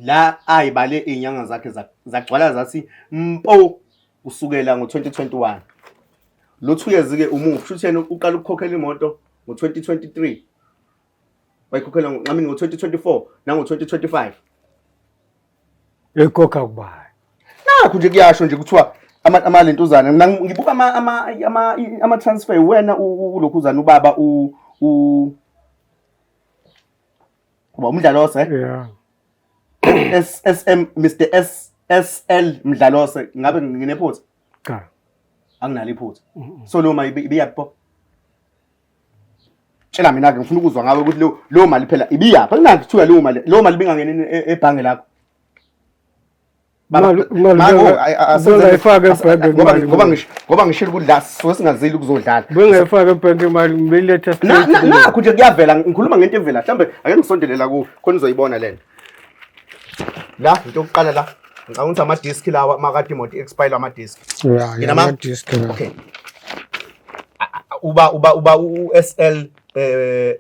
la ayibale inyanga zakhe za- zagcwala zathi mpo kusukela ngo-2021 lo two years ke umufi shuthi yena uqala ukukhokhela imoto ngo-2023 wayikhokhela ngo- I mean ngo-2024 nango-2025 ekhokha kubani nakho nje kuyasho nje kuthiwa ama- amalentuzana Mina ngi- ngibuka ama- ama- ama- i- ama-transfer wena u- u- ulokhuzana ubaba u- u- Ngoba umdlalose yeah SSM Mr SSL mdlalose ngabe nginephutha cha anginalo iphutha so lo mali ibiyaphi pho tshela mina ke ngifuna ukuzwa ngawe ukuthi lo mali phela ibiyaphi anginakuthiwa lo mali lo mali bingangeni e-, ebhange lakho ngoba ngishilo ukuthi la sisuke singazile ukuzodlala bengayifaka ebhenki imali ngibeletha nakho nje kuyavela ngikhuluma ngento evela mhlawumbe ake ngisondelela kuwo khona uzoyibona lena la into yokuqala la ngicabanga ukuthi amadiski lawa makade imoto expire amadiski okay uba uba uba u-SL eh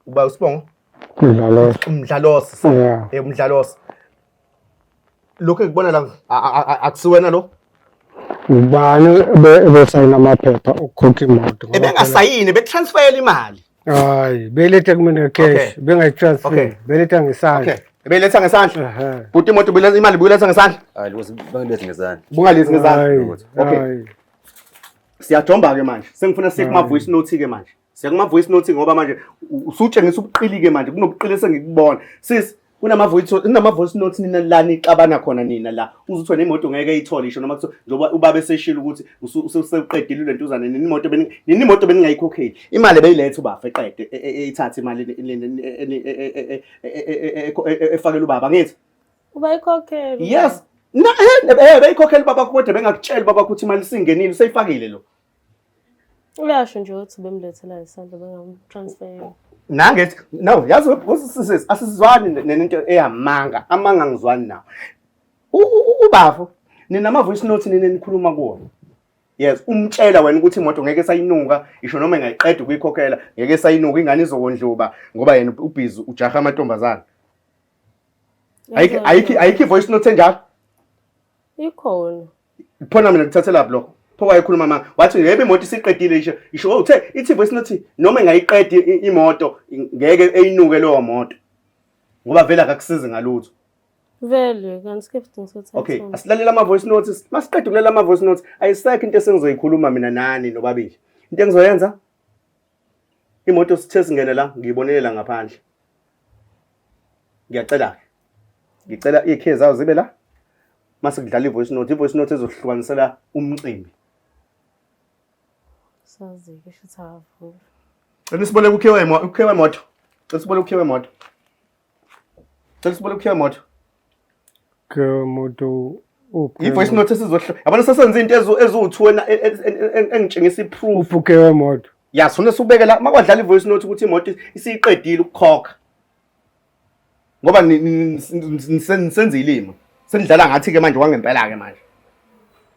uba usibongo umdlalosi umdlalosi lokhu engikubona la a- a- a- akusiwena lo ubani ebe- ebesayina amaphepha okukhokha imoto ngoba ebengasayini bekutransfayela imali phela- hayi beletha kumina Okay. cash Okay. bengayitransfer beletha ngesandla okay ebeyiletha ngesandla Ehhe. bhuti imoto ubuyiletha- imali buyiletha ngesandla Hayi loko bangilethe ngezandla. bungalethi Hayi, ngesandla okay hayi. siyajomba-ke manje sengifuna siye kuma-voice note-ke manje Siyakuma voice note ngoba manje usutshengisa ubuqilike manje kunobuqili esengikubona. Sis kunama voice kunama voice note nina la nixabana khona nina la. Uzuthi wena imoto ngeke ithole isho noma kuthiwa njengoba ubaba eseshilo ukuthi usuqedile lento uzana nini imoto beni nini imoto beningayikhokheli. Imali beyilethe ubafa eqede ethathe imali efakela ubaba ngithi. Ubayikhokhela. Yes. Na eh beyikhokhela ubaba kodwa bengakutshela ubaba ukuthi imali singenile useyifakile lo. Uyasho nje ukuthi bemlethela isandla bengamtransfer. Nange no yazi webusisisi asizwani nento eyamanga amanga ngizwani nawo. Ubafo nina ama voice note nina nikhuluma kuwona. Yes umtshela wena ukuthi imoto ngeke sayinuka isho noma engayiqeda ukuyikhokhela ngeke sayinuka ingane izokondluba ngoba yena ubhizi ujaha amantombazana. Ayikho ayikho ayikho voice note enjalo. Ikhona. Phona mina ngithathelaphi lokho? Pho wayekhuluma mama wathi ngeke imoto isiqedile isho isho oh, uthe ithi voice note noma engayiqedi imoto ngeke eyinuke leyo moto. Ngoba vele akakusizi ngalutho. Vele kanti ke futhi ngisothatha. Okay, asilalela ama voice notes. Masiqeda ukulalela ama voice notes, ayisekho into esengizoyikhuluma mina nani nobabili. Into engizoyenza imoto sithe singene la ngiyibonele la ngaphandle ngiyacela ke ngicela ikhe zawo zibe la mase kudlala ivoice note ivoice note ezohlukanisela umcimbi sazi ke shuthi awavula cela siboleke ukhe wemoto ukhe wemoto cela siboleke ukhe wemoto Cela sibole ukhiya moto. Ke moto uphi? Yi voice note esizohla. Yabona sesenza into ezu ezu2 ena engitshengisa iproof. Uphuke wemoto. Ya sona subeke la makwadlala ivoice note ukuthi imoto isiqedile ukukhokha. Ngoba nisenza ilima. Senidlala ngathi ke manje wangempela ke manje.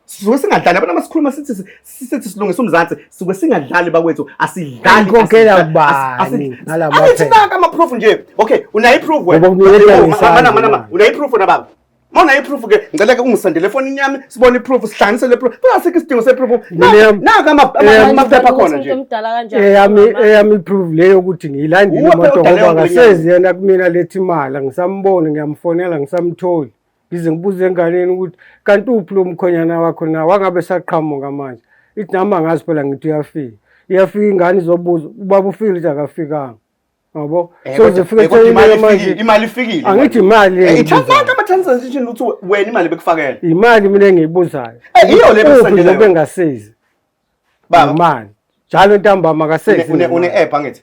sisuke singadlali abantu abasikhuluma sithi sithi silungisa umzansi sisuke singadlali bakwethu asidlali ngikhokhela bani ngalabo athi naka ama proof nje okay unayo iproof wena mana mana unayo iproof na baba Mona iproof ke ngicela ke ungisendele efonini yami sibone iproof sihlanganise le proof. Kungasikho isidingo seproof. Naka ama amaphepha khona nje. Umdala kanjani? Eyami eyami iproof leyo ukuthi ngiyilandile imoto ngoba ngasezi yena kumina lethi imali ngisamuboni ngiyamfonela ngisamtholi. ngize ngibuze enganeni ukuthi kanti uphi lo mkhonyana wakho na wangabe saqhamuka manje ithi nami angazi phela ngithi uyafika iyafika ingane izobuza ubaba ufile ithi akafikanga yabo eh, so zifike seyimali manje imali ifikile angithi imali eh, ithatha ama transaction ukuthi wena imali bekufakela imali mina engiyibuzayo eh, iyo le besandela bengasizi baba imali njalo ntambama akasezi une app angithi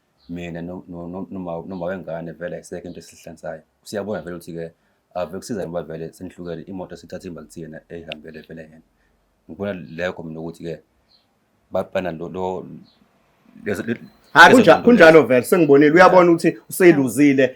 mina no- no- no- noma noma wengane vele ayisekho into esihlansayo siyabona vele ukuthi-ke ave kusiza ngoba vele senihlukele imoto sithatha imali thina eyihambele vele yena ngibona lekho mina ukuthi-ke babana lo lo- lezo- le- Ha lezo kunja- zinto kunjalo vele sengibonile uyabona ukuthi useluzile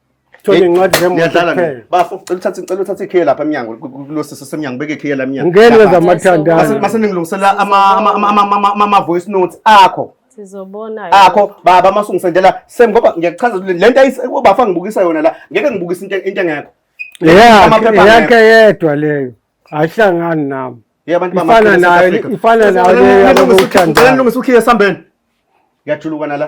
Thola Eh, incwadi zemoto Ngiyadlala kuphela. mina. Bafo, cela uthathe cela uthathe ikhiye lapha emnyango ku- ku- kulo sisi semnyango beke ikhiye la emnyango. Ngeke Lapha. zamathandana. Mase mase ningilungisela ama ama ama- ama- ama- ama- ama voice notes akho. Sizobona. akho baba masungisendela sem ngoba ngiyakuchaza ukuthi le nto ayis- ubafa ngibukisa yona la ngeke ngibukise into into engekho Eyakhe Amaphepha eyakhe yedwa leyo. Ayihlangani nami. ye abantu Ifana bamakhulu eSouth nayo Africa. ifana nayo Ngicela leyo nilungise- ngicela yabothandana. nilungise ukhiye esambeni ngiyajulukana la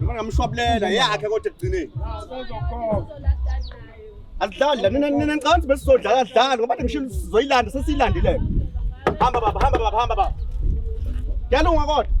Noma ngamshwabulela yakhe kodwa ekugcineni. Asidlali la nina nina ngicabanga ukuthi besizodlala asidlali ngoba ngishilo sizoyilanda sesiyilandile. Hamba baba hamba baba hamba baba. Yalunga kodwa.